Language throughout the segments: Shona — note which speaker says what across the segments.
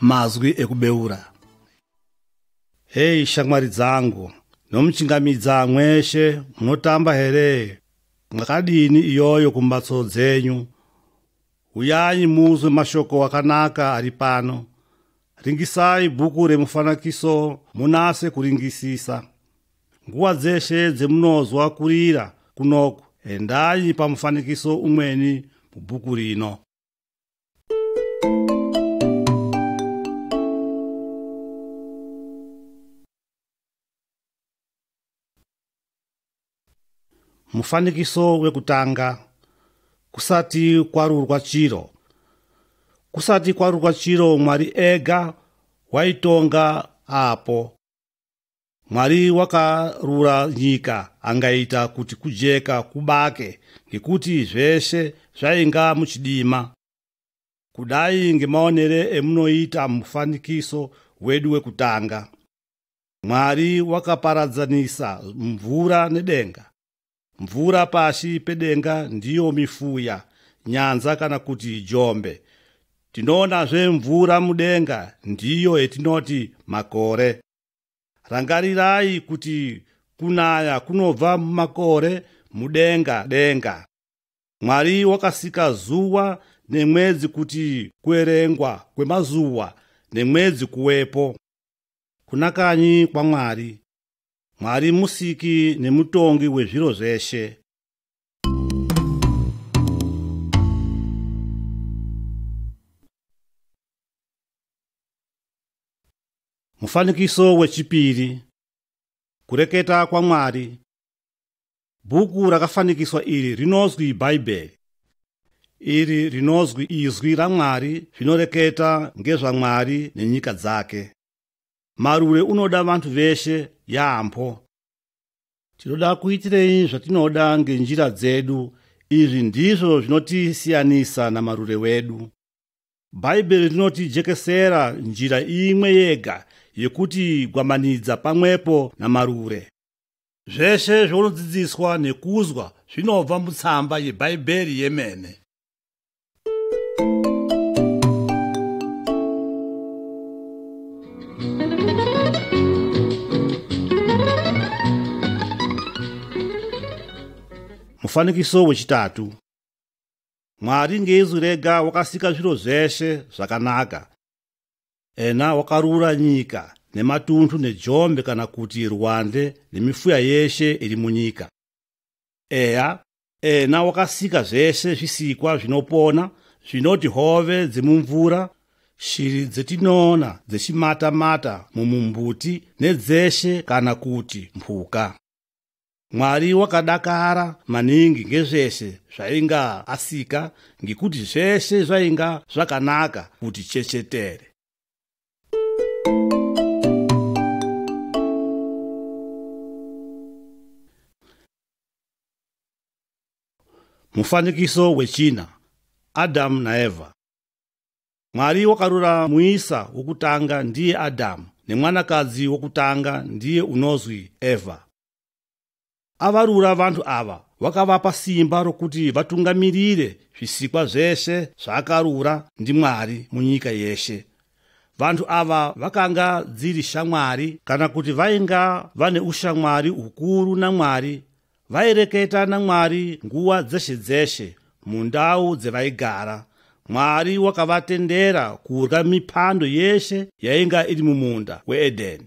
Speaker 1: mazwi ekubeura hei shamwari dzangu nomuchingamidza mweshe munotamba here mwakadini iyoyo kumbatso dzenyu huyanyi muzwe mashoko akanaka ari pano ringisai bhuku remufanakiso munase kuringisisa nguva dzeshe dzemunozwa kurira kunoku endai pamufanikiso umweni mubhuku rino mufanikiso wekutanga kusati kwarurwa chiro kusati kwarurwa chiro mwari ega waitonga apo mwari wakarura nyika angaita kuti kujeka kubake ngekuti zveshe zvainga muchidima kudai ngemaonere emunoita mufanikiso wedu wekutanga mwari wakaparadzanisa mvura nedenga Mvura pasi pedenga ndiyo mifuya, nyanza kana kuti jombe. Tinoonazve mvura mudenga ndiyo yetinoti makore. Rangarirai kuti kunaya kunobva mumakore mudenga denga. Mwari wakasika zuva nemwedzi kuti kuerengwa kwemazuva nemwedzi kuwepo. Kunakanyi kwaMwari. Mwari musiki nemutongi wezviro zveshe. Mufanikiso wechipiri Kureketa kwaMwari Bhuku rakafanikiswa iri rinozwi Bhaibheri. Iri rinozwi izwi raMwari zvinoreketa ngezvaMwari nenyika dzake. Marure unoda vantu veshe yaambo. Tinoda kuitirei zvatinoda ngenjira dzedu. Izvi ndizvo zvinotisiyanisa namarure wedu. Bhaibheri rinotijekesera njira imwe yega yekuti gwamanidza pamwepo namarure. Zveshe zvaunodzidziswa nekuzwa zvinobva mutsamba yebhaibheri yemene. mufanikiso wechitatu mwari ngeizwi rega wakasika zviro zveshe zvakanaka ena wakarura nyika nematunhu nejombe kana kuti rwande nemifuya yeshe iri munyika eya Ena wakasika zvese zvisikwa zvinopona zvinoti hove dzemumvura shiri dzetinoona dzechimata-mata mumumbuti nedzeshe kana kuti mhuka mwari wakadakara maningi ngezvese zvainga asika ngekuti zvese zvainga zvakanaka kuti chechetere mufanikiso wechina adhamu naevha mwari wakarura muisa wokutanga ndiye adhamu nemwanakadzi wokutanga ndiye unozwi evha Avarura vanhu ava wakavapa simba rokuti vatungamirire zvisikwa zvese zvaakarura ndiMwari munyika yeshe. Vanhu ava vakanga dziri shamwari kana kuti vainga vane ushamwari hukuru naMwari, vaireketa naMwari nguva dzeshe dzeshe mundau dzevaigara. Mwari wakavatendera kurya mipando yeshe yainga iri mumunda weEdheni.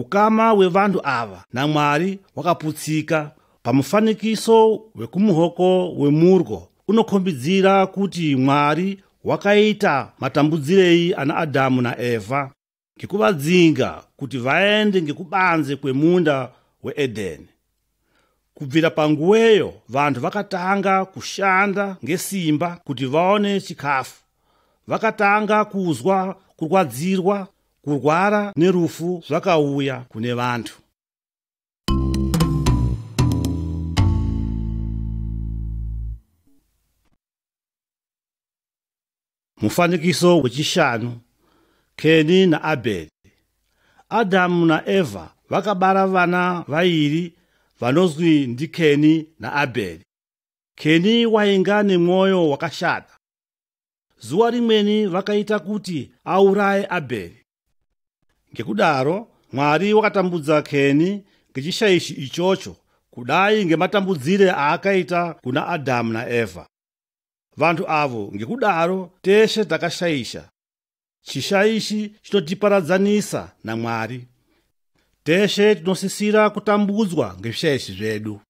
Speaker 1: Ukama wevanhu ava naMwari wakaputsika pamufanikiso wekumuhoko wemurwo unokhombidzira kuti Mwari wakaita matambudzirei ana Adhamu naEvha ngekuvadzinga kuti vaende ngekubanze kwemunda weEdheni. kubvira panguweyo vanhu vakatanga kushanda ngesimba kuti vaone chikafu vakatanga kuzwa kurwadzirwa kurwara nerufu zvakauya kune vanhu Mufanikiso wechishanu, Keni naAbheri. Adhamu naEvha vakabara vana vairi vanozwi ndiKeni naAbheri. Keni wainga nemwoyo wakashata. Zuva rimweni vakaita kuti auraye Abheri. Ngekudaro Mwari wakatambudza Keni ngechishaishi ichocho kudai ngematambudzire aakaita kuna Adhamu naEvha. vanhu avo ngekudaro teshe takashaisha chishaishi chinotiparadzanisa namwari teshe tinosisira kutambudzwa ngezvishaishi zvedu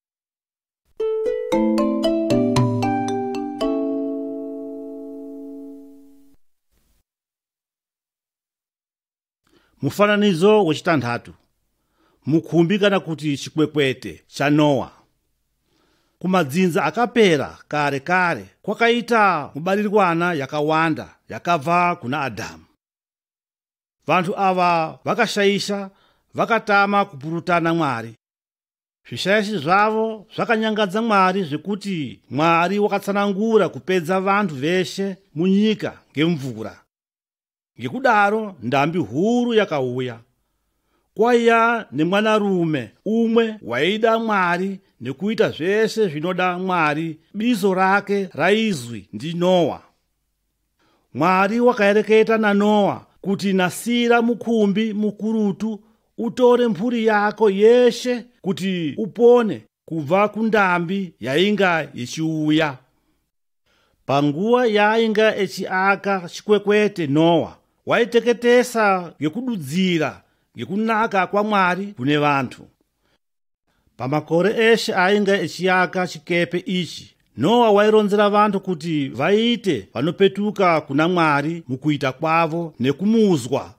Speaker 1: Mufananidzo wechitanhatu. Mukhumbi kana kuti chikwekwete chaNoa. Kumadzinza akapera kare kare kwakaita mubarirwana yakawanda yakabva kuna Adhamu. Vanhu ava vakashaisha, vakatama kupurutana Mwari. Zvishaishi zvavo zvakanyangadza Mwari zvekuti Mwari wakatsanangura kupedza vanhu veshe munyika ngemvura. ngekudaro ndambi huru yakauya kwaiya nemwanarume umwe waida mwari nekuita zvese zvinoda mwari bizo rake raizwi ndinoa mwari wakaereketa nanoa kuti nasira mukumbi mukurutu utore mhuri yako yeshe kuti upone kubva kundambi yainga ichiuya. Panguva yaainga echiaka chikwekwete Noa waiteketesa ngekududzira ngekunaka kwaMwari kune vantu. Pamakore eshe ainga echiaka chikepe ichi, Noa waironzera vantu kuti vaite vanopetuka kuna Mwari mukuita kwavo nekumuzwa.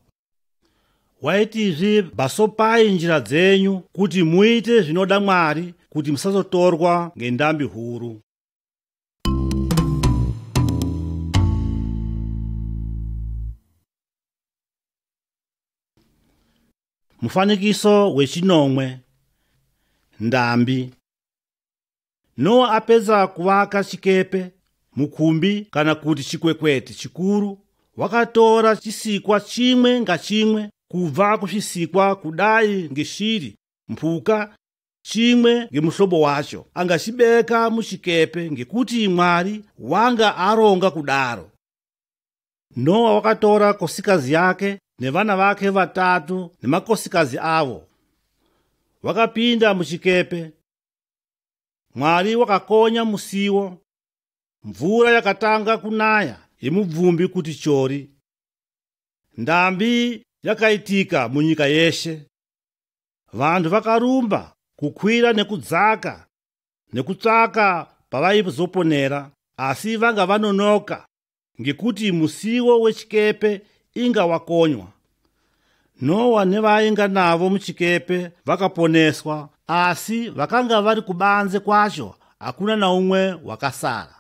Speaker 1: waitizve basopai njira dzenyu kuti muite zvinoda mwari kuti musazotorwa ngendambi huru mufanikiso wechinomwe ndambi Noa apedza kuvaka chikepe, mukumbi kana kuti chikwekwete chikuru, wakatora chisikwa chimwe ngachimwe kubva kuzvisikwa kudai ngeshiri, mhuka, chimwe ngemuhlobo wacho angachibeka muchikepe ngekuti Mwari wanga aronga kudaro. Noa wakatora kosikazi yake nevana vake vatatu nemakosikazi avo, wakapinda muchikepe Mwari wakakonya musiwo, mvura yakatanga kunaya yemubvumbi kuti chori. Ndambi yakaitika munyika yeshe. Vanhu vakarumba kukwira nekudzaka nekutsvaka pavaizoponera asi vanga vanonoka ngekuti musiwo wechikepe inga wakonywa nowa nevainga navo muchikepe vakaponeswa asi vakanga vari kubanze kwacho hakuna naumwe wakasara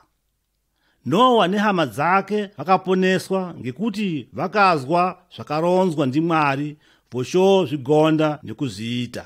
Speaker 1: nowa nehama dzake vakaponeswa ngekuti vakazwa zvakaronzwa ndimwari vochozvigonda nekuzviita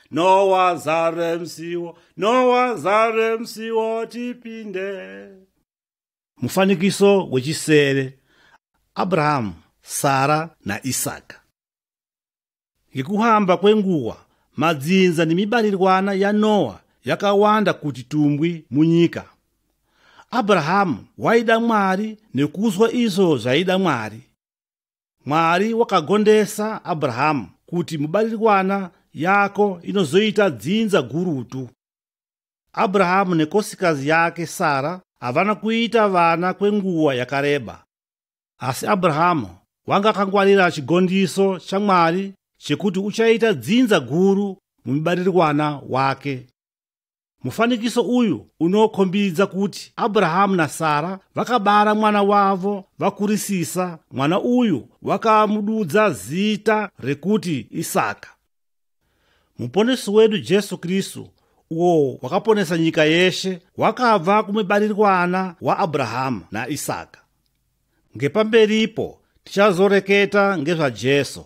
Speaker 1: Nowa zare msiwo, Nowa zare msiwo tipinde. Mufanikiso wechisere Abrahamu, Sara naIsaka. Ngekuhamba kwenguva, madzinza nemibarirwana yaNowa yakawanda kuti tumbwi munyika. Abrahamu waida Mwari nekuzwa izvo zvaida Mwari. Mwari wakagondesa Abrahamu kuti mubaririkwana yako inozoita dzinza gurutu. Abrahamu nekosikazi yake Sara havana kuita vana kwenguva yakareba. Asi Abrahamu wanga akangwarira chigondiso chaMwari chekuti uchaita dzinza guru mumibaririkwana wake. Mufanikiso uyu unokhombidza kuti Abrahamu na Sara vakabara mwana wavo vakurisisa, mwana uyu wakamududza zita rekuti Isaka. Muponesi wedu Jesu Kristu, uwo wakaponesa nyika yeshe, wakabva kumubarirwana wa Abrahamu na Isaka. Ngepamberipo tichazoreketa ngezva Jesu.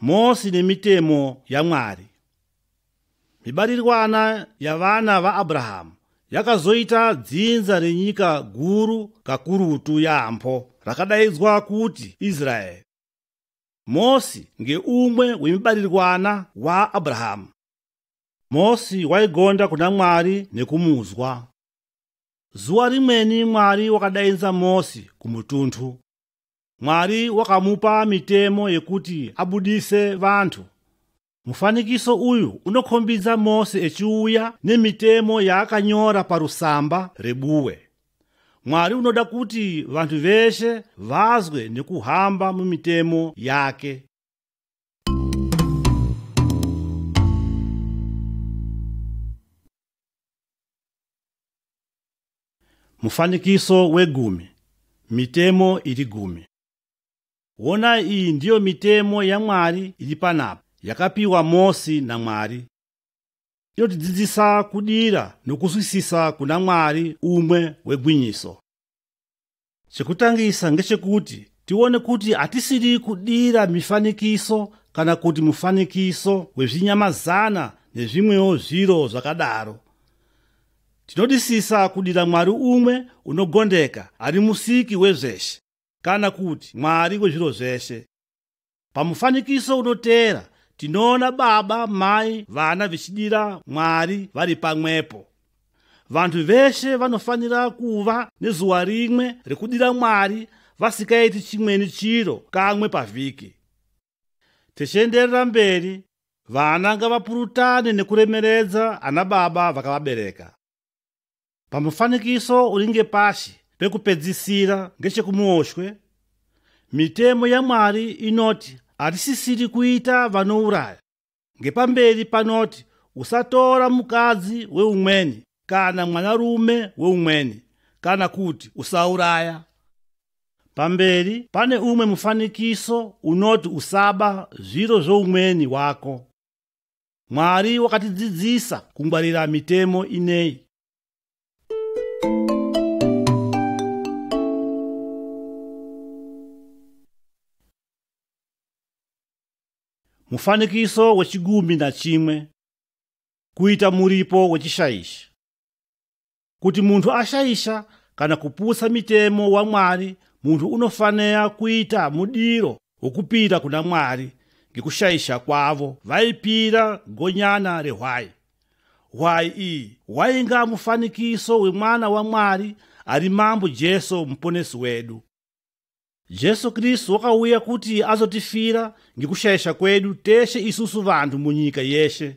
Speaker 1: Mosi nemitemo yaMwari. Mibarirwana yavana vaAbrahamu yakazoita dzinza renyika guru kakurutu yaambo rakadaidzwa kuti Israeri. Mosi ngeumwe wemibarirwana waAbrahamu. Mosi waigonda kuna Mwari nekumudzwa. Zuva rimweni Mwari wakadainza Mosi kumutundu. Mwari wakamupa mitemo yekuti abudise vanhu. Mufanikiso uyu unokhombidza Mose echiuya nemitemo yaakanyora parusamba rebuwe. Mwari unoda kuti vanhu veshe vazwe nekuhamba mumitemo yake. Mufanikiso wegumi. Mitemo iri gumi. Wona iyi ndiyo mitemo yaMwari iri panapa yakapiwa Mosi naMwari. Inotidzidzisa kudira nokuswisisa kuna Mwari umwe wegwinyiso. Chekutangisa ngechekuti tione kuti hatisiri kudira mifanikiso kana kuti mufanikiso wezvinyamazana nezvimwewo zviro zvakadaro. Tinodisisa kudira Mwari umwe unogondeka ari musiki wezveshe kana kuti Mwari wezviro zveshe. Pamufanikiso unoteera tinoona baba, mai, vana vichidira Mwari vari pamwepo. Vanhu veshe vanofanira kuva nezuva rimwe rekudira Mwari vasikaiti chimweni chiro kamwe pavhiki. Tichienderera mberi, vana ngavapurutane nekuremeredza ana baba vakavabereka. Pamufanikiso uri ngepasi pekupedzisira ngechekumuoshwe, mitemo yaMwari inoti hatisisiri kuita vanouraya. Ngepamberi panoti usatora mukadzi weumweni kana mwanarume weumweni kana kuti usauraya. Pamberi pane umwe mufanikiso unoti usaba zviro zvoumweni wako. Mwari wakatidzidzisa kungwarira mitemo inei. Mufanikiso wechigumi nachimwe. Kuita muripo wechishaishi. Kuti munhu ashaisha kana kuputsa mitemo waMwari, munhu unofanira kuita mudiro wokupira kuna Mwari ngekushaisha kwavo. Vaipira gonyana rehwai. Hwai iyi wainga mufanikiso wemwana waMwari ari Mambo Jesu Muponesi wedu. Jesu Kristu wakauya kuti azotifira ngekushaisha kwedu teshe isusu vanhu munyika yeshe.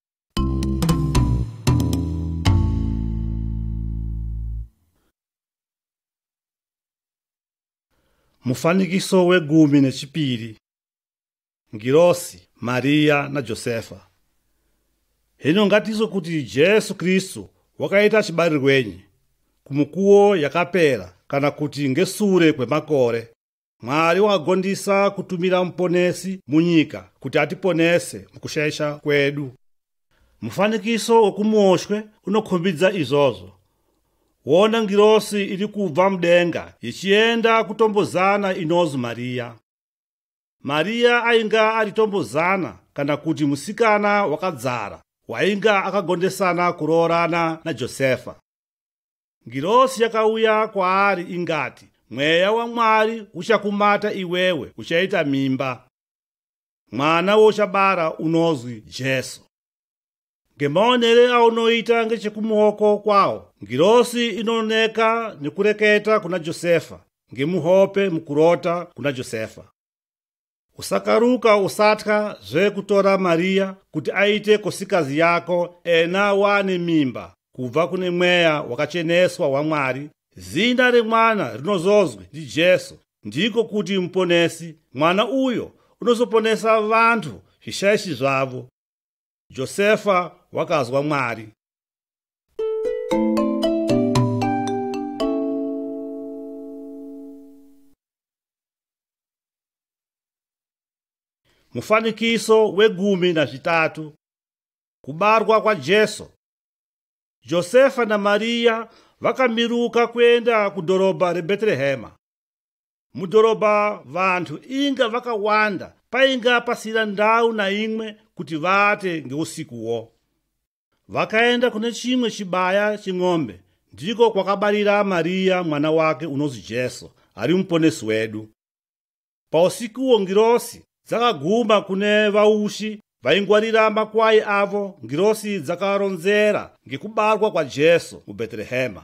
Speaker 1: Mufanikiso wegumi nechipiri Ngirosi, Maria naJosefa Hino ngatizo kuti Jesu Kristu wakaita chibarirwenyi kumukuwo yakapera kana kuti ngesure kwemakore Mwari wagondisa kutumira muponesi munyika kuti atiponese mukushaisha kwedu. Mufanikiso wokumuoshwe unokhombidza izvozvo. Wona ngirosi iri kubva mudenga ichienda kutombozana inozi Mariya. Mariya ainga ari tombozana kana kuti musikana wakadzara wainga akagondesana kuroorana naJosefa. Ngirosi yakauya kwaari ingati, Mweya waMwari uchakumata iwewe, uchaita mimba. Mwana wouchabara unozwi Jesu. Ngemaonere aunoita ngechekumuoko kwawo, ngirosi inoneka nekureketa kuna Josefa, ngemuhope mukurota kuna Josefa. Usakaruka usatya zvekutora Maria kuti aite kosikazi yako ena wane mimba kubva kune mweya wakacheneswa waMwari. Zina remwana rinozozwi ndiJesu, ndiko kuti muponesi. Mwana uyo unozoponesa vantu zvishaishi zvavo. Josefa wakazwa Mwari. Mufanikiso wegumi nazvitatu. Kubarwa kwaJesu. Josefa naMariya vakamiruka kuenda kudhorobha reBhetrehema. Mudhorobha vanhu inga vakawanda painga pasina ndau naimwe kuti vaate ngeusikuwo. Vakaenda kune chimwe chibaya cheng'ombe ndiko kwakabarira Mariya mwana wake unonzi Jesu ari muponesi wedu. Pausikuwo ngirosi dzakaguma kune vaushi vaingwarira makwai avo ngirosi dzakaronzera ngekubarwa kwaJesu muBhetrehema.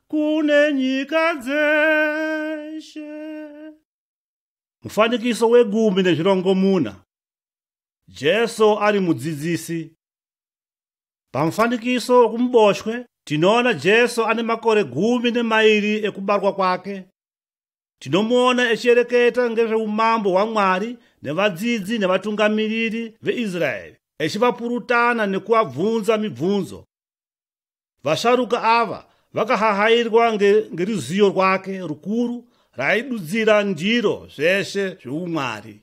Speaker 1: kune nyika dzeshe. Mufanikiso wegumi nezvirongomuna. Jesu ari mudzidzisi. Pamufanikiso wokumuboshwe tinoona Jesu ane makore gumi nemairi ekubarwa kwake. Tinomuona echiereketa ngezveumambo hwaMwari nevadzidzi nevatungamiriri veIsraeri echivapurutana nekuvabvunza mibvunzo. Vasharuka ava vakahahairwa ngeruziyo rwake rukuru raidudzira ndiro zveshe zveumwari.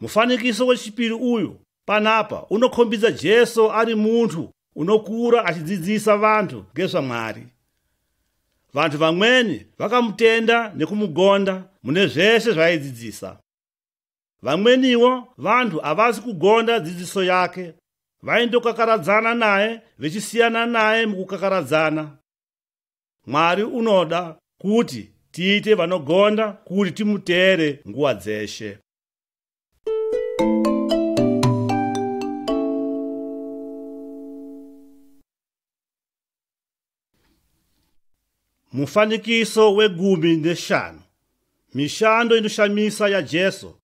Speaker 1: Mufanikiso wechipiri uyu panapa unokhombidza Jesu ari munhu unokura achidzidzisa vanhu ngezvaMwari. Vanhu vamweni vakamutenda nekumugonda mune zveshe zvaaidzidzisa. Vamweniwo vanhu havazi kugonda dzidziso yake, vaindokakaradzana naye vechisiyana naye mukukakaradzana. Mwari unoda kuti tiite vanogonda kuti timuteere nguva dzeshe. Mufanikiso wegumi neshanu. Mishando inoshamisa yaJesu.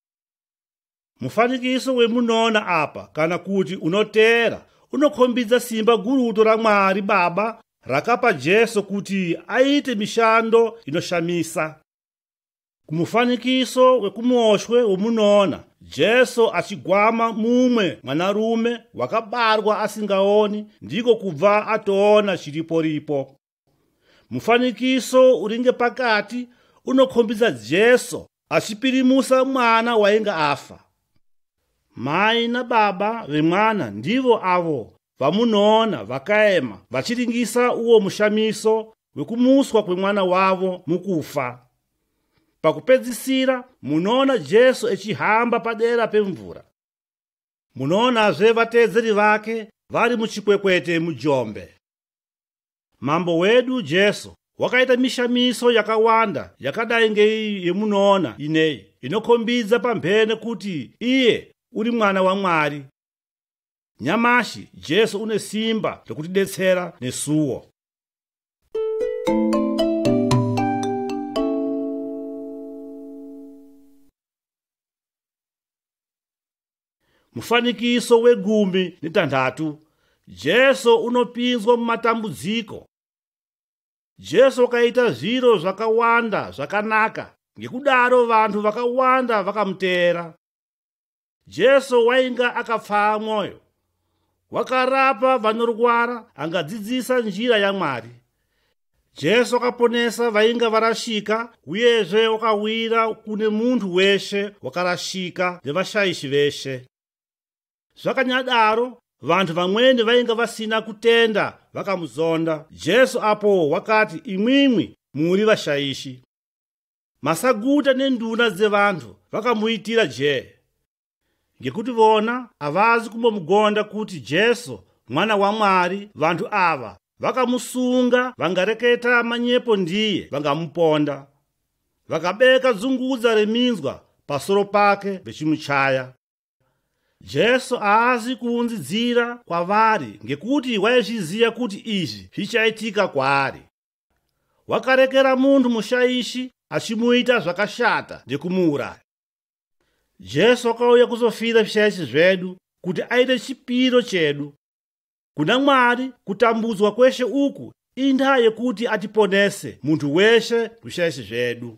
Speaker 1: Mufanikiso wemunoona apa kana kuti unoteera unokhombidza simba gurutu raMwari Baba rakapa Jesu kuti aite mishando inoshamisa. Kumufanikiso wekumuoshwe womunoona Jesu achigwama mumwe mwanarume wakabarwa asingaoni ndiko kubva atoona chiripo ripo. Mufanikiso uringe pakati unokhombidza Jesu achipirimusa mwana wainge afa. Mai nababa vemwana ndivo avo vamunoona vakaema vachiringisa uwo mushamiso wekumuswa kwemwana wavo mukufa. Pakupedzisira, munoona Jesu echihamba padera pemvura. Munoonazve vateedzeri vake vari muchikwekwete mujombe. Mambo wedu Jesu wakaita mishamiso yakawanda yakadai ngeiyi yemunoona ineyi inokhombidza pamhene kuti iye uri mwana waMwari. Nyamashi Jesu une simba rekutidetsera nesuwo. Mufanikiso wegumi netanhatu. Jesu unopinzwa mumatambudziko. Jesu wakaita zviro zvakawanda zvakanaka, ngekudaro vanhu vakawanda vakamuteera. Jesu wainga akapfaa mwoyo. Wakarapa vanorwara, angadzidzisa njira yaMwari. Jesu akaponesa vainga varashika, uyezve wakawira kune munhu weshe wakarashika nevashaishi veshe. Zvakanyadaro, vanhu vamweni vainga vasina kutenda vakamuzonda. Jesu apo wakati, Imwimwi muri vashaishi. Masaguta nenduna dzevanhu vakamuitira jee ngekuti vona havazi kumbomugonda kuti Jesu mwana waMwari. Vanhu ava vakamusunga, vangareketa manyepo ndiye, vangamuponda. Vakabeka dzungudza reminzwa pasoro pake vechimuchaya. Jesu haazi kuunzidzira kwavari ngekuti waizviziva kuti izvi zvichaitika kwaari. wakarekera munhu mushaishi achimuita zvakashata nekumuuraya jesu akauya kuzofira zvishaishi zvedu kuti aite chipiro chedu kuna mwari kutambudzwa kweshe uku indaa yekuti atiponese munhu weshe zvishaishi zvedu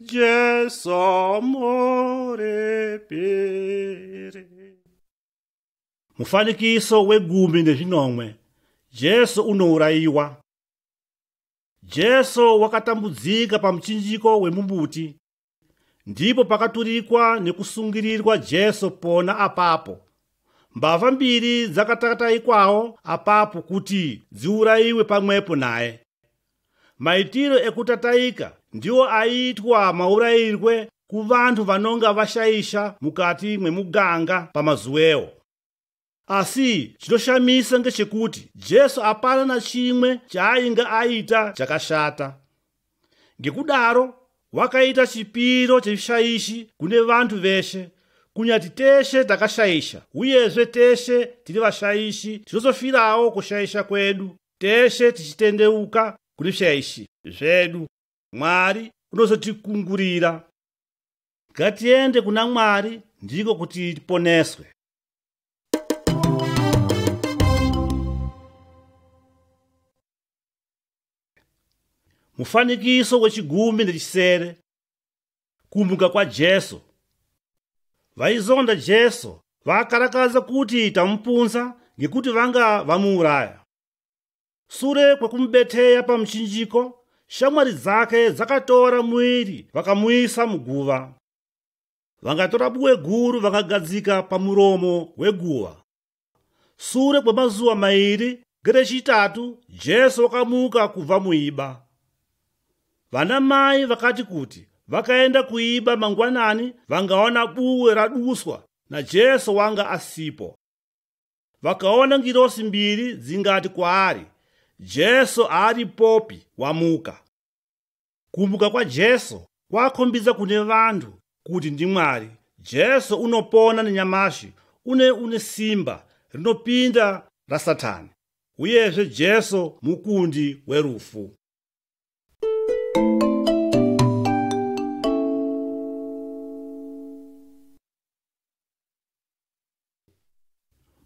Speaker 1: Jesu murepere. Mufanikiso wegumi nezvinomwe. Jesu unourayiwa. Jesu wakatambudzika pamuchinjiko wemumbuti. Ndipo pakaturikwa nekusungirirwa Jesu pona apapo. Mbavha mbiri dzakatataikwawo apapo kuti dziurayiwe pamwepo naye. Maitiro ekutataika ndiwo aiitwa maurayirwe kuvanhu vanonga vashaisha mukati mwemuganga pamazuwewo. Asi chinoshamisa ngechekuti Jesu apana nachimwe chaainga aita chakashata. Ngekudaro wakaita chipiro chevishaishi kune vanhu veshe kunyati teshe takashaisha uyezve teshe tiri vashaishi tinozofirawo kushaisha kwedu teshe tichitendeuka kune zvaishi zvedu mwari unozotikungurira ngatiende kuna mwari ndiko kuti tiponeswe mufanikiso wechigumi nechisere kumuka kwajesu vaizonda jesu vakarakadza kuti tamupunza ngekuti vanga vamuuraya sure kwekumubeteya pamuchinjiko shamwari dzake dzakatora muiri vakamuisa muguva vangatora buwe guru vakagadzika pamuromo weguva Sure kwemazuva mairi ngerechitatu Jesu wakamuka kubva muiba. Vana mai vakati kuti vakaenda kuiba mangwanani vangaona buwe raduswa naJesu wanga asipo. Vakaona ngirosi mbiri dzingati kwaari, Jesu aaripopi, wamuka. Kumuka kwaJesu kwakhombidza kune vanhu kuti ndi Mwari. Jesu unopona nenyamashi une une simba rinopinda raSatani. Uyezve Jesu mukundi werufu.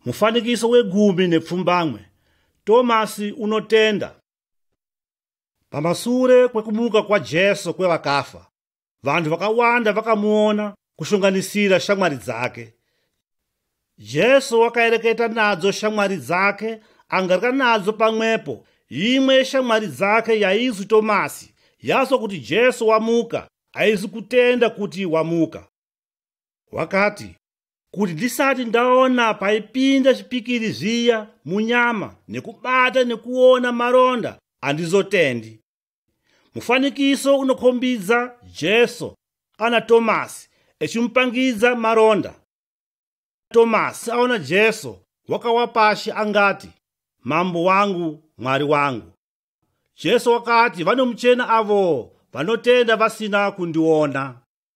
Speaker 1: Mufanikiso wegumi nepfumbamwe. Tomasi unotenda. Pamasure kwekumuka kwaJesu kwevakafa, vanhu vakawanda vakamuona kushunganisira shamwari dzake. Jesu wakaereketa nadzo shamwari dzake angarika nadzo pamwepo. Imwe yeshamwari dzake yaizi Tomasi yazwa kuti Jesu wamuka, aizi kutenda kuti wamuka. wakati kuti ndisati ndaona paipinda chipikiri zviya munyama nekubata nekuona maronda andizotendi mufanikiso unokhombidza jesu ana tomasi echimupangidza maronda tomasi aona jesu wakawa pashi angati mambo wangu mwari wangu jesu wakati vanomuchena avo vanotenda vasina kundiona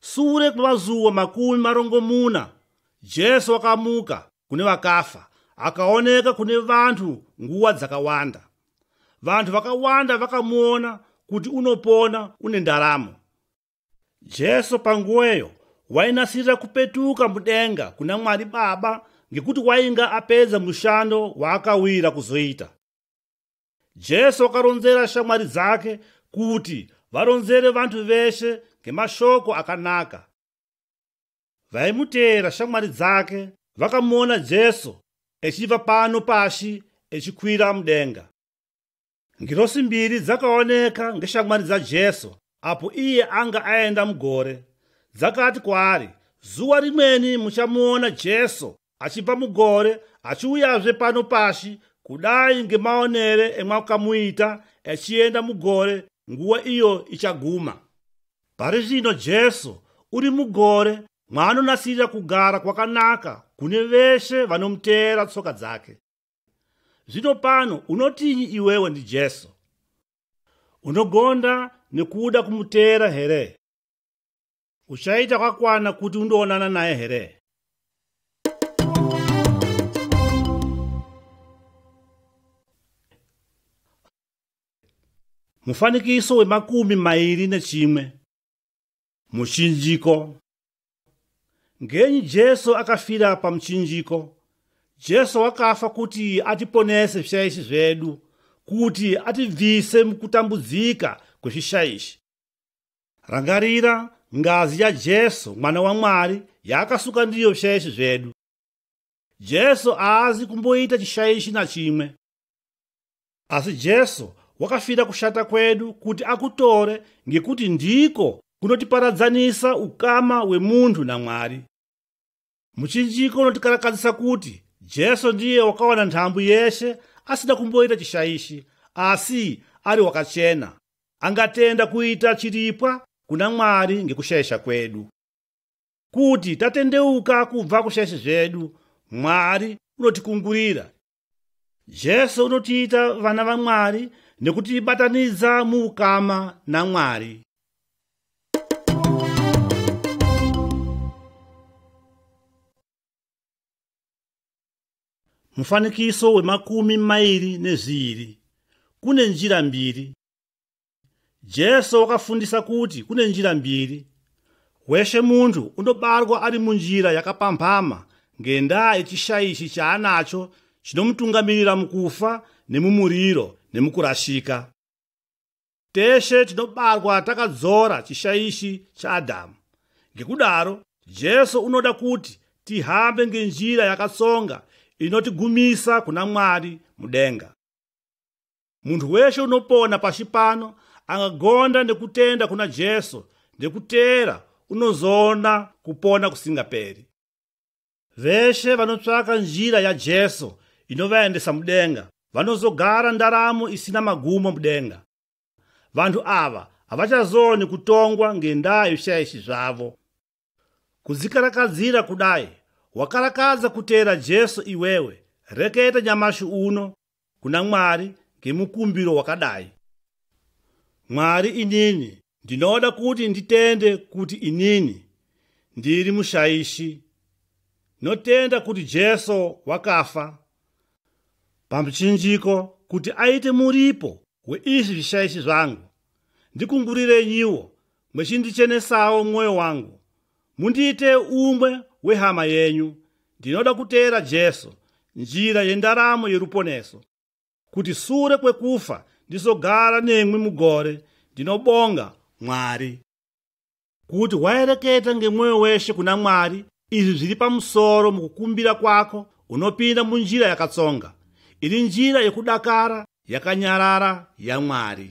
Speaker 1: Sure kwemazuva makumi marongomuna, Jesu wakamuka kune vakafa akaoneka kune vanhu nguva dzakawanda. Vanhu vakawanda vakamuona kuti unopona une ndaramo. Jesu panguweyo wainasirira kupetuka mudenga kuna Mwari Baba ngekuti wainga apedza mushando waakawira kuzoita. Jesu akaronzera shamwari dzake kuti varonzere vantu veshe ngemashoko akanaka. Vaimuteera shamwari dzake vakamuona Jesu echibva pano pashi echikwira mudenga. Ngirosi mbiri dzakaoneka ngeshamwari dzaJesu apo iye anga aenda mugore. Dzakati kwaari, Zuva rimweni muchamuona Jesu achibva mugore achiuyazve pano pashi kudai ngemaonere emwakamuita achienda mugore nguva iyo ichaguma pari zvino jesu uri mugore mwaanonasirira kugara kwakanaka kune veshe vanomuteera tsoka dzake zvino pano unotinyi iwewe ndi jesu unogonda nekuda kumuteera here uchaita kwakwana kuti undoonana naye here mufanikiso wemakumi mairi nechimwe muchinjiko ngenyi jesu akafira pamuchinjiko jesu wakafa kuti atiponese zvishaishi zvedu kuti atibvise mukutambudzika kwezvishaishi Rangarira ngazi ya Jesu mwana wa Mwari yaakasuka ndiyo zvishaishi zvedu. Jesu aazi kumboita chishaishi na chimwe. Asi Jesu wakafira kushata kwedu kuti akutore ngekuti ndiko kunotiparadzanisa ukama wemunhu na Mwari. Muchinjiko unotikarakadzisa kuti Jesu ndiye wakawana ntambu yeshe asina kumboita chishaishi asi ari wakachena. Angatenda kuita chiripwa kuna Mwari ngekushaisha kwedu. Kuti tatendeuka kubva kushaisha zvedu, Mwari unotikungurira Jesu unotiita vana vaMwari nekutibatanidza muukama naMwari. Mufanikiso wemakumi mairi nezviiri. Kune njira mbiri. Jesu wakafundisa kuti kune njira mbiri. Weshe munhu unobarwa ari munjira yakapambhama ngendaa yechishaishi chaanacho chinomutungamirira mukufa nemumuriro nemukurashika. Teshe tinobarwa takadzora chishaishi chaAdhamu. Ngekudaro, Jesu unoda kuti tihambe ngenjira yakatsonga inotigumisa kuna Mwari mudenga. Munhu weshe unopona pashi pano angagonda nekutenda kuna Jesu nekuteera unozoona kupona kusingaperi. Veshe vanotsvaka njira yaJesu inovaendesa mudenga vanozogara ndaramo isina magumo mudenga. Vanhu ava havachazooni kutongwa ngendaa yezvishaishi zvavo. Kuzikarakadzira kudai wakarakadza kuteera Jesu iwewe, reketa nyamashi uno kuna Mwari ngemukumbiro wakadai. Mwari inini ndinoda kuti nditende kuti inini ndiri mushaishi. Notenda kuti Jesu wakafa pamuchinjiko kuti aite muripo weizvi zvishaishi zvangu. Ndikungurirenyiwo mwechindichenesawo mwoyo wangu mundiite umwe wehama yenyu ndinoda kuteera jesu njira yendaramo yeruponeso kuti sure kwekufa ndizogara nemwi mugore ndinobonga mwari kuti waereketa ngemwoyo weshe kuna mwari izvi zviri pamusoro mukukumbira kwako unopinda munjira yakatsonga iri njira yekudakara yakanyarara yamwari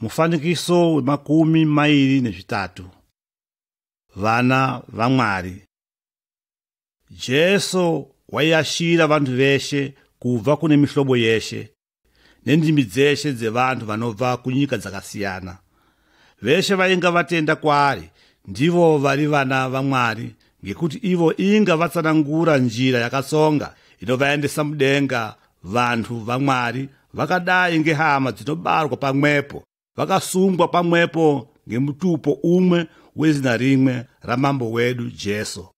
Speaker 1: Mufanikiso wemakumi mairi nezvitatu. Vana vaMwari. Jesu waiyashira vanhu veshe kubva kune mihlobo yeshe nendimi dzeshe dzevanhu vanobva kunyika dzakasiyana. Veshe vainga vatenda kwaari ndivo vari vana vaMwari ngekuti ivo inga vatsanangura njira yakatsonga inovaendesa mudenga Vanhu vaMwari vakadai ngehama dzinobarwa pamwepo vakasungwa pamwepo ngemutupo umwe wezina rimwe ramambo wedu Jesu.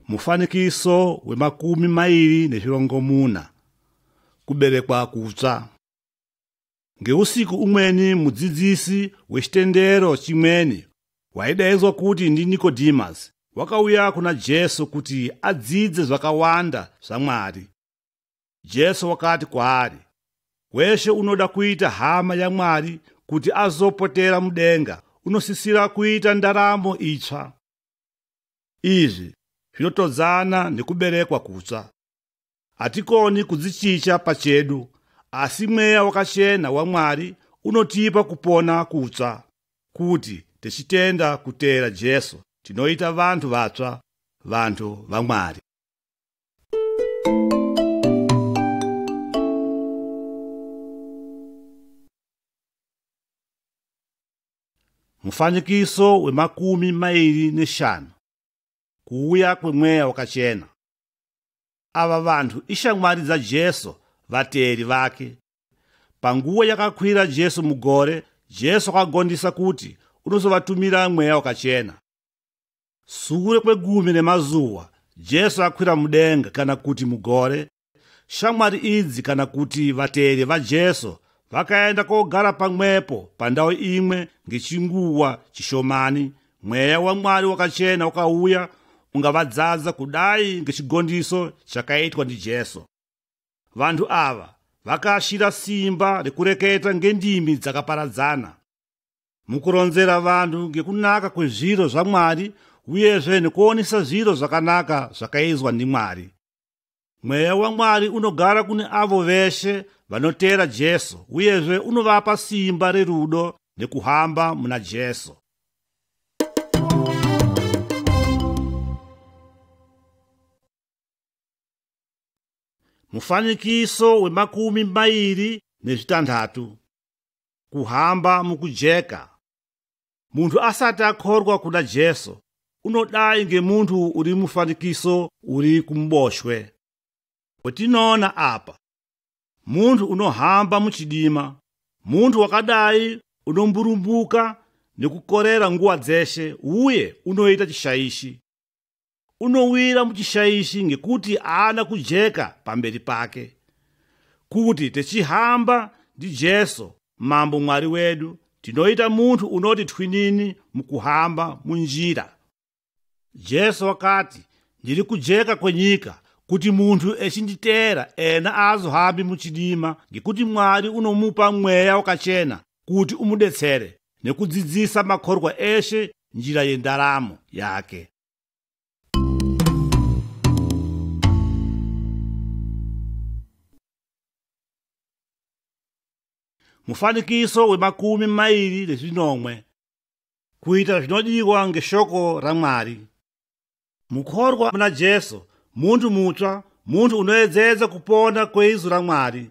Speaker 1: Mufanikiso wemakumi mairi nezvirongomuna kuberekwa kutsva. Ngeusiku umweni mudzidzisi wechitendero chimweni waidaidzwa kuti ndiNikodimasi wakauya kuna Jesu kuti adzidze zvakawanda zvaMwari. Jesu wakati kwaari, Weshe unoda kuita hama yaMwari kuti azopotera mudenga unosisira kuita ndaramo itsva. Izvi zvinotodzana nekuberekwa kutsva. Hatikoni kudzichicha pachedu, asi mweya wakachena waMwari unotipa kupona kutsva. Kuti tichitenda kuteera Jesu, tinoita vanhu vatsva, vanhu vaMwari. Mufanikiso wemakumi mairi neshanu. kuuya kwemweya wakachena. Ava vanhu ishamwari dzaJesu, vateeri vake. Panguva yakakwira Jesu mugore, Jesu akagondisa kuti unozovatumira mweya wakachena. Sure kwegumi nemazuva, Jesu akwira mudenga kana kuti mugore, shamwari idzi kana kuti vateeri vajesu vakaenda kogara pamwepo pandau imwe ngechinguva chishomani mweya wamwari wakachena ukauya ungavadzadza kudai ngechigondiso chakaitwa ndijesu vanhu ava vakaashira simba rekureketa ngendimi dzakaparadzana mukuronzera vanhu ngekunaka kwezviro zvamwari uyezve nekuonesa zviro zvakanaka zvakaizwa ndimwari Mweya waMwari unogara kune avo veshe vanoteera Jesu uyezve unovapa simba rerudo nekuhamba muna Jesu. Mufanikiso wemakumi mairi nezvitanhatu. Kuhamba mukujeka. Munhu asati akhorwa kuna Jesu unodai ngemunhu uri mufanikiso uri kumuboshwe. Wetinoona apa, munhu unohamba muchidima, munhu wakadai unomburumbuka nekukorera nguva dzeshe uye unoita chishaishi. unowira muchishaishi ngekuti haana kujeka pamberi pake kuti techihamba ndijesu mambo mwari wedu tinoita munhu unoti twinini mukuhamba munjira jesu wakati ndiri kujeka kwenyika kuti munhu echinditeera ena aazohambi muchidima ngekuti mwari unomupa mweya wakachena kuti umudetsere nekudzidzisa makorwa eshe njira yendaramo yake. Mufanikiso wemakumi mairi nezvinomwe kuita zvinodiwa ngeshoko raMwari. Mukorwa muna Jesu, muntu mutsva, muntu unoedzedza kupona kweizu raMwari.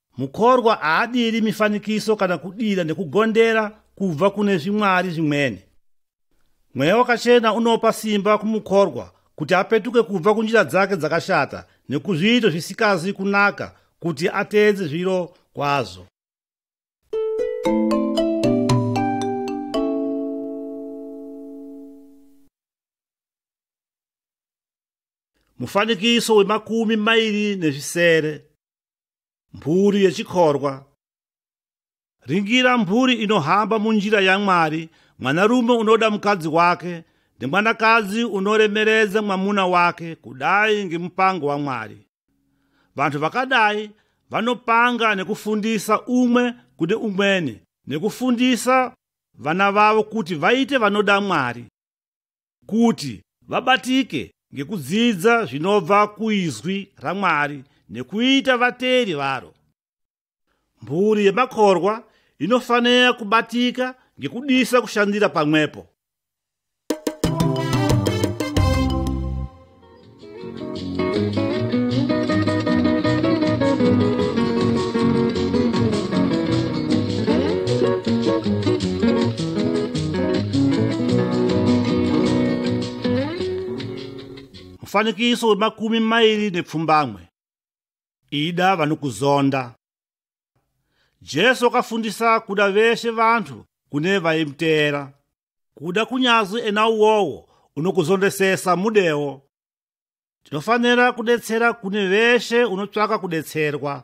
Speaker 1: Mukorwa haadiri mifanikiso kana kudira nekugondera kubva kune zvimwari zvimwene. Mweya wakachena unopa simba kumukorwa kuti apetuke kubva kunjira dzake dzakashata nekuzviito zvisikazi kunaka kuti ateedze zviro kwazvo. Mufanikiso wemakumi mairi nezvisere. Mburi yechikorwa. Ringira mburi inohamba munjira yaMwari, mwanarume unoda mukadzi wake nemwanakadzi unoremeredza mwamuna wake kudai ngemupango waMwari. Vanhu vakadai vanopanga nekufundisa umwe kune umweni nekufundisa vana vavo kuti vaite vanoda Mwari. kuti vabatike ngekudzidza zvinobva kuizwi raMwari nekuita vateeri varo. Mhuri yemakorwa inofanira kubatika ngekudisa kushandira pamwepo. mufanikiso wemakumi mairi nepfumbamwe ida vanokuzonda jesu akafundisa kuda veshe vantu kune vaimuteera kuda kunyazi ena uwowo unokuzondesesa mudewo tinofanira kudetsera kune veshe unotsvaka kudetserwa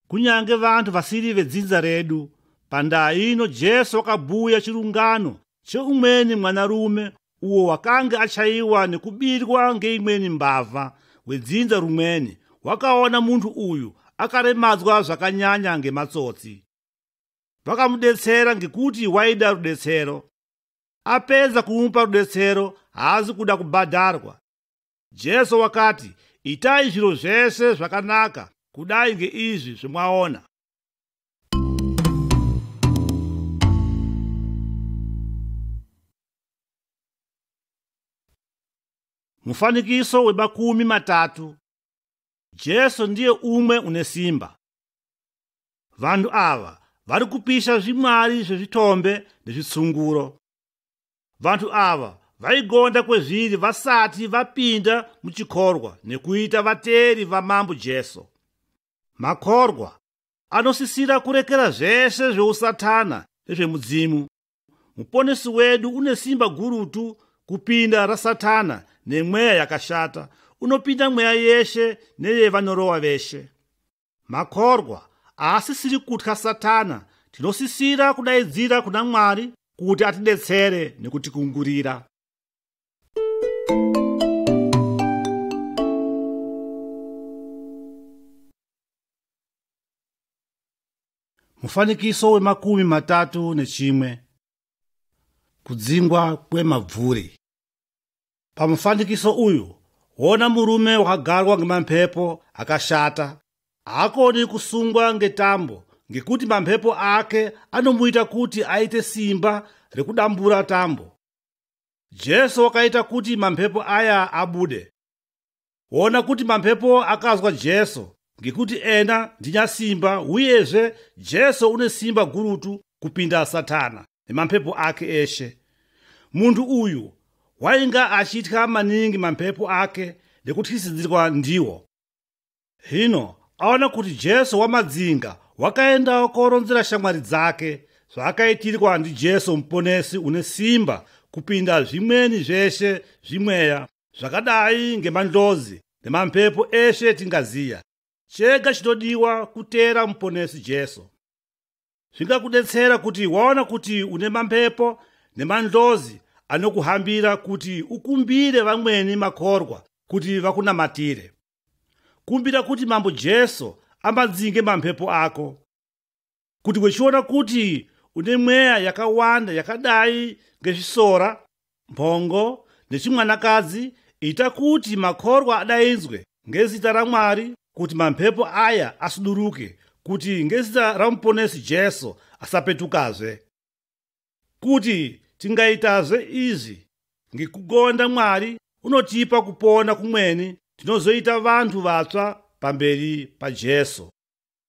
Speaker 1: kunyange vantu vasiri vedzinza redu pandaa ino jesu wakabhuya chirungano cheumweni mwanarume uwo wakange achaiwa nekubirwa ngeimweni mbavha wedzinza rumweni wakaona munhu uyu akaremadzwa zvakanyanya ngematsotsi vakamudetsera ngekuti waida rudetsero apedza kumupa rudetsero haazi kuda kubhadharwa jesu wakati itai zviro zvese zvakanaka kudai ngeizvi zvimwaona mufanikiso wemakumi matatu Jesu ndiye umwe une simba. Vanhu ava vari kupisha zvimwari zvezvitombe nezvitsunguro. Vanhu ava vaigonda kwezviri vasati vapinda muchikorwa nekuita vateri vamambo Jesu. Makorwa anosisira kurekera zvese zveusatana nezvemudzimu Muponesi wedu une simba gurutu kupinda raSatana nemweya yakashata, unopinda mweya yeshe neyevanorowa veshe. Makorwa aasisiri kutya Satana, tinosisira kudaidzira kuna Mwari kuti atidetsere nekutikungurira. Mufanikiso wemakumi matatu nechimwe. Kudzingwa kwemabvuri. Pamufanikiso uyu, hona murume wakagarwa ngemamhepo akashata. Haakoni kusungwa ngetambo ngekuti mamhepo ake anomuita kuti aite simba rekudambura tambo. Jesu wakaita kuti mamhepo aya abude. Ona kuti mamhepo akazwa Jesu, ngekuti ena ndinyasimba, uyezve Jesu une simba gurutu kupinda Satana nemamhepo ake eshe. Munhu uyu wainga achitya maningi mamhepo ake nekutyisidzirwa ndiwo. Hino aona kuti Jesu wamadzinga wakaendawo koronzera shamwari dzake zvaakaitirwa ndiJesu muponesi une simba kupinda zvimweni zveshe zvimweya zvakadai ngemandlozi nemamhepo eshe etingaziya chega chinodiwa kuteera muponesi jesu zvingakudetsera kuti waona kuti une mamhepo nemandlozi anokuhambira kuti ukumbire vamweni makorwa kuti vakunamatire kumbira kuti mambo jesu amadzinge mamhepo ako kuti wechiona kuti une mweya yakawanda yakadai ngezvisora mhongo nechimwanakadzi ita kuti makorwa adaidzwe ngezita ramwari kuti mamhepo aya asuduruke kuti ngezita ramuponesi jesu asapetukazve kuti tingaitazve izvi ngekugonda mwari unotipa kupona kumweni tinozoita vanhu vatsva pamberi pajesu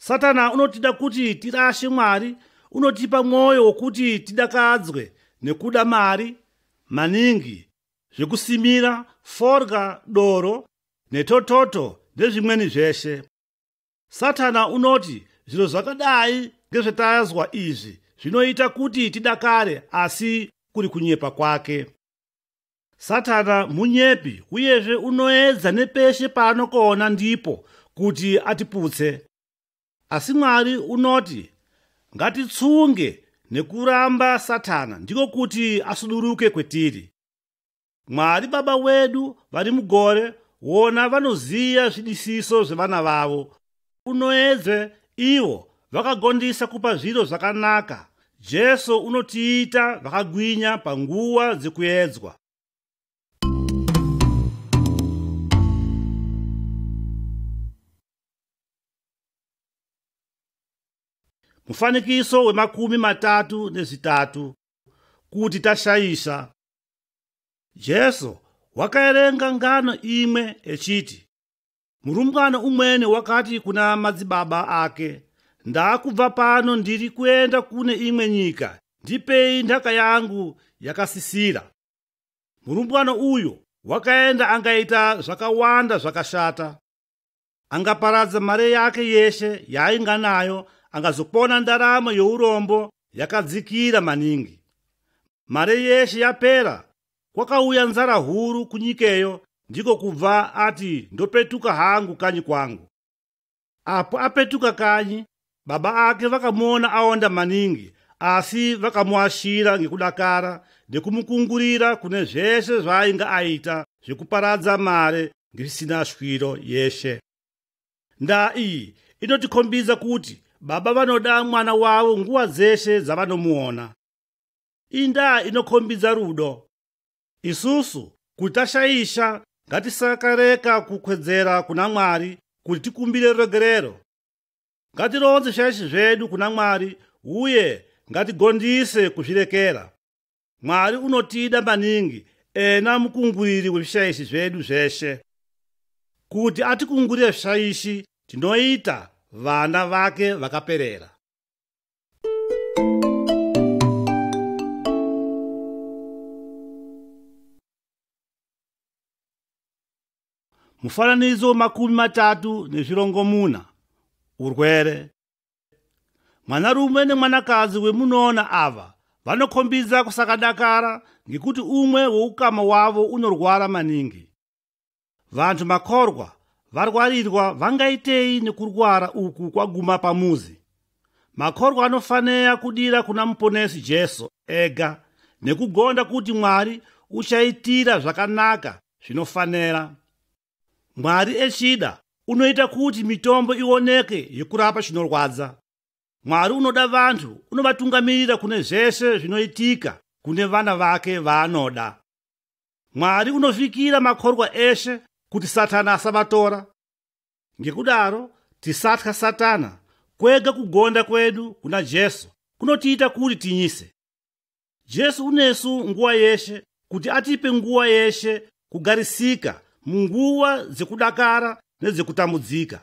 Speaker 1: satana unotida kuti tirashe mwari unotipa mwoyo wokuti tidakadzwe nekuda mari maningi zvekusimira forga doro netototo nezvimweni zveshe satana unoti zviro zvakadai ngezvetazwa izvi zvinoita kuti tidakare asi kuri kunyepa kwake Satana munyepi uyezve unoedza nepeshe paanokoona ndipo kuti atiputse. Asi Mwari unoti ngatitsunge nekuramba Satana ndiko kuti asuduruke kwetiri. Mwari Baba wedu vari mugore wona vanoziva zvidisiso zvevana vavo unoedze ivo vakagondisa kupa zviro zvakanaka jesu unotiita vakagwinya panguva dzekuedzwa mufanikiso wemakumi matatu nezvitatu kuti tashaisha jesu wakaerenga ngano imwe echiti Murumbwana umwene wakati kuna madzibaba ake, ndakubva pano ndiri kuenda kune imwe nyika, ndipei ndaka yangu yakasisira. Murumbwana uyo wakaenda angaita zvakawanda zvakashata. Angaparadza mari yake yeshe yaainga nayo, angazopona ndaramo yourombo yakadzikira maningi. Mari yeshe yapera, Kwakauya nzara huru kunyikeyo ndiko kubva ati ndopetuka hangu kanyi kwangu. Apo apetuka kanyi, baba ake vakamuona aonda maningi asi vakamuashira ngekudakara nekumukungurira kune zvese zvaainga aita zvekuparadza mare ngisina shwiro yeshe. Ndaa iyi inotikhombidza kuti baba vanoda mwana wavo nguva dzeshe dzavanomuona. indaa inokhombidza rudo. Isusu kuti tashaisha ngatisakareka kukwedzera kuna Mwari kuti tikumbire ruregerero. Ngatironze zvishaishi zvedu kuna Mwari uye ngatigondise kuzvirekera. Mwari unotida maningi ena mukunguriri wezvishaishi zvedu zveshe. Kuti atikungurire zvishaishi tinoita vana vake vakaperera. mufananidzo makumi matatu nezvirongomuna urwere mwanarume nemwanakadzi wemunoona ava vanokhombidza kusakadakara ngekuti umwe weukama wavo unorwara maningi Vanhu makorwa varwarirwa vangaitei nekurwara uku kwaguma pamuzi? Makorwa anofanira kudira kuna muponesi Jesu ega nekugonda kuti Mwari uchaitira zvakanaka zvinofanira. Mwari echida unoita kuti mitombo ioneke yekurapa chinorwadza. Mwari unoda vanhu unovatungamirira kune zvese zvinoitika kune vana vake vaanoda. Mwari unovikira makorwa eshe kuti Satana asavatora. Ngekudaro, tisatya Satana, kwega kugonda kwedu kuna Jesu kunotiita kuti tinyise. Jesu unesu nguva yeshe kuti atipe nguva yeshe kugarisika munguva dzekudakara nedzekutambudzika.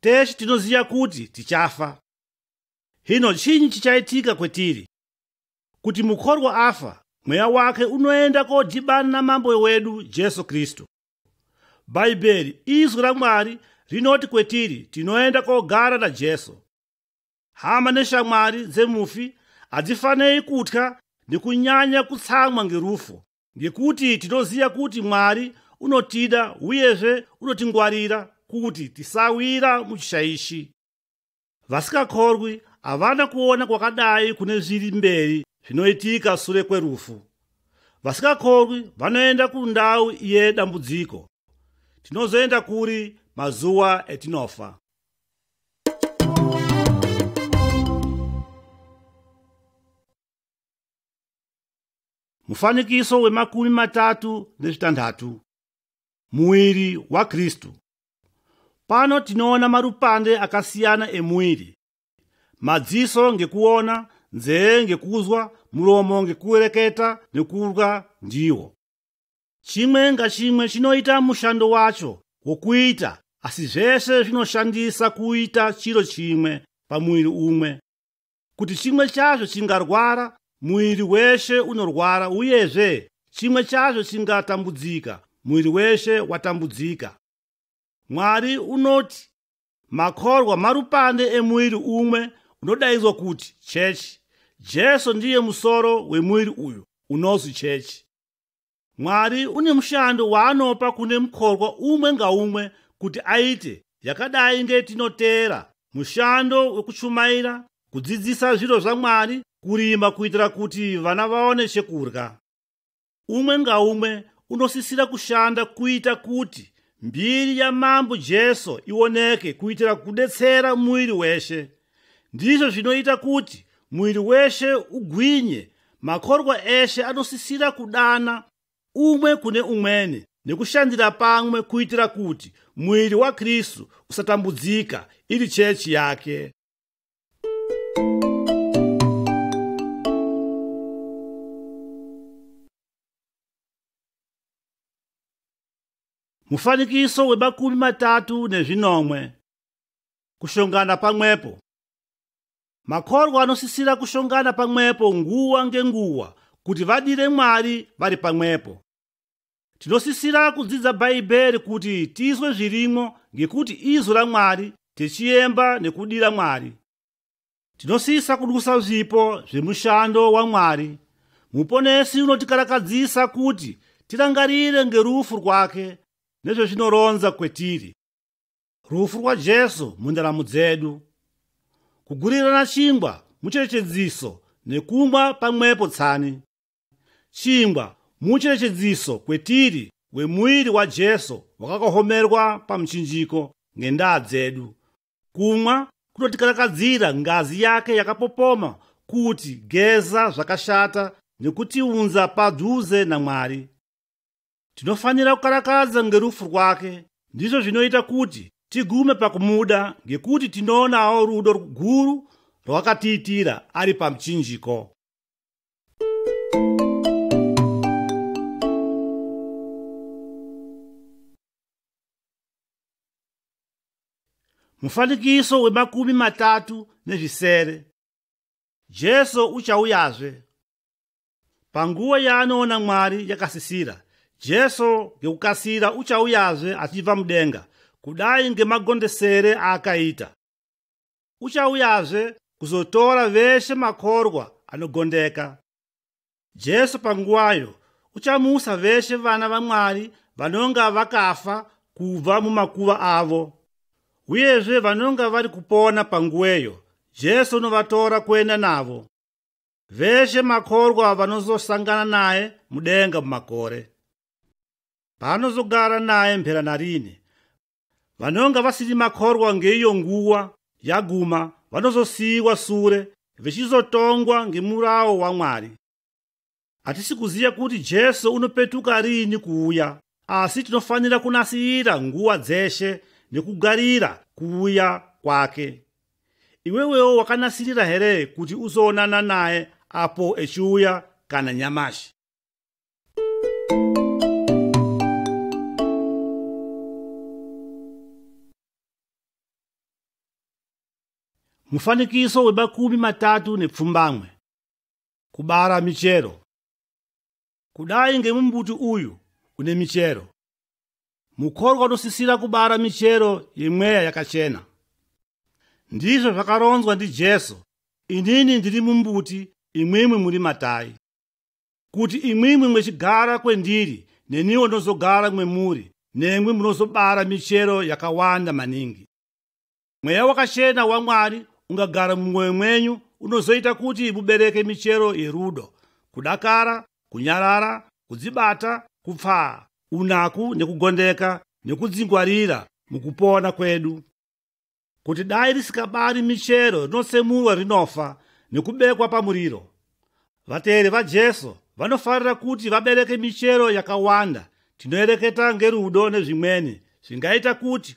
Speaker 1: Tese tinoziva kuti tichafa. Hino chinyi chichaitika kwetiri? Kuti mukorwa afa, mweya wake unoenda kodhibana namambo wedu Jesu Kristu. Bhaibheri, izwi raMwari, rinoti kwetiri tinoenda kogara naJesu. Hama neshamwari dzemufi hadzifanei kutya nekunyanya kutsamwa ngerufu Ngekuti tinoziva kuti Mwari unotida uyezve unotingwarira kuti tisawira muchishaishi. Vasikakorwi havana kuona kwakadai kune zviri mberi zvinoitika sure kwerufu. Vasikakorwi vanoenda kundau iye dambudziko. Tinozoenda kuri mazuva etinofa. Mufanikiso wemakumi matatu nezvitanhatu. Muiri waKristu. Pano tinoona marupande akasiyana emuiri. Madziso ngekuona, nzee ngekuzwa, muromo ngekuereketa nekurwa ndiwo. Chimwe ngachimwe chinoita mushando wacho wokuita asi zvese zvinoshandisa kuita chiro chimwe pamuiri umwe. kuti chimwe chazvo chingarwara muviri weshe unorwara uyezve chimwe chazvo chingatambudzika muviri weshe watambudzika mwari unoti makorwa marupande emuviri umwe unodaidzwa kuti chechi jesu ndiye musoro wemuviri uyu unonzi chechi Mwari une mushando waanopa kune mukorwa umwe ngaumwe kuti aite, yakadai ngetinoteera mushando wekuchumaira, kudzidzisa zviro zvaMwari, kurima kuitira kuti vana vaone chekurya. Umwe ngaumwe unosisira kushanda kuita kuti mbiri yaMambo Jesu ioneke kuitira kudetsera muiri weshe. ndizvo zvinoita kuti muviri weshe ugwinye makorwa eshe anosisira kudana umwe kune umwene nekushandira pamwe kuitira kuti muviri wakristu usatambudzika iri chechi yake mufanikiso wemakumi matatu nezvinomwe Kushongana pamwepo. Makorwa anosisira kushongana pamwepo nguva ngenguva kuti vadire Mwari vari pamwepo. Tinosisira kudzidza Bhaibheri kuti tizwe zvirimo ngekuti izwi raMwari tichiyemba nekudira Mwari. Tinosisa kudusa zvipo zvemushando waMwari. Muponesi unotikarakadzisa kuti tirangarire ngerufu rwake nezvezvinoronza kwetiri. rufu rwaJesu mundaramo dzedu, kugurirana chingwa mucherechedziso nekumwa pamwepo tsani. Chingwa mucherechedziso kwetiri wemuiri waJesu wakakohomerwa pamuchinjiko ngendaa dzedu. Kumwa kunotikarakadzira ngazi yake yakapopoma kuti geza zvakashata nekutiunza padhuze naMwari. Tinofanira kukarakadza ngerufu rwake, ndizvo zvinoita kuti tigume pakumuda ngekuti tinoonawo rudo ruguru rwakatiitira ari pamuchinjiko. Mufanikiso wemakumi matatu nezvisere. Jesu uchauyazve. Panguva yaanoona Mwari yakasisira, Jesu ngekukasira uchauyazve achibva mudenga, kudai ngemagondesere aakaita. Uchauyazve kuzotora veshe makorwa anogondeka. Jesu panguvayo uchamusa veshe vana vaMwari vanonga vakafa kubva mumakuva avo. Uyezve vanonga vari kupona panguweyo, Jesu unovatora kuenda navo. Veshe makorwa vanozosangana naye mudenga mumakore. Paanozogara naye mphera narine. Vanonga vasiri makorwa ngeiyo nguwa yaguma vanozosiiwa sure vechizotongwa ngemurawo waMwari. Hatisi kuziva kuti Jesu unopetuka riini kuuya, asi tinofanira kunasirira nguwa dzeshe nekugarira kuuya kwake. iwewewo wakanasirira here kuti uzoonana naye apo echiuya kana nyamashi mufanikiso wemakumi matatu nepfumbamwe kubara michero Kudai ngemumbuti uyu une michero, mukorwa unosisira kubara michero yemweya yakachena. Ndizvo zvakaronzwa ndi Jesu, inini ndiri mumbuti, imwimwi muri matai. Kuti imwimwi mwechigara kwendiri, neniwo ndozogara mwemuri, nemwi munozobara michero yakawanda maningi. Mweya wakachena waMwari ungagara mumwoyo mwenyu unozoita kuti mubereke michero yerudo, kudakara, kunyarara, kudzibata, kupfaa, unaku nekugondeka nekudzingwarira mukupona kwedu. Kuti dai risikabari michero rinosemurwa rinofa nekubekwa pamuriro. Vateeri vaJesu vanofarira kuti vabereke michero yakawanda tinoereketa ngerudo nezvimweni zvingaita kuti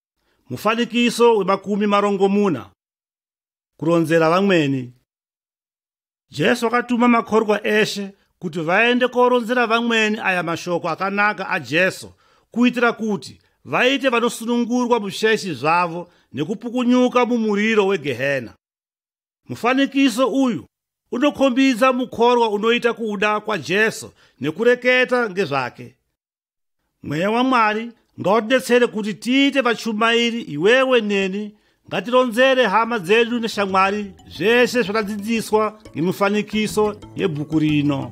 Speaker 1: Mufanikiso wemakumi marongomuna kuronzera vamweni. Jesu akatuma makorwa eshe kuti vaende koronzera vamweni aya mashoko akanaka aJesu kuitira kuti vaite vanosunungurwa musheshi zvavo nekupukunyuka mumuriro wegehena. Mufanikiso uyu unokhombidza mukorwa unoita kuda kwaJesu nekureketa ngezvake. mweya wamwari ngautibetsere kuti tiite vachumairi iwewe neni ngatironzere hama dzedu neshamwari zvese zvatadzidziswa nemifanikiso yebhuku rino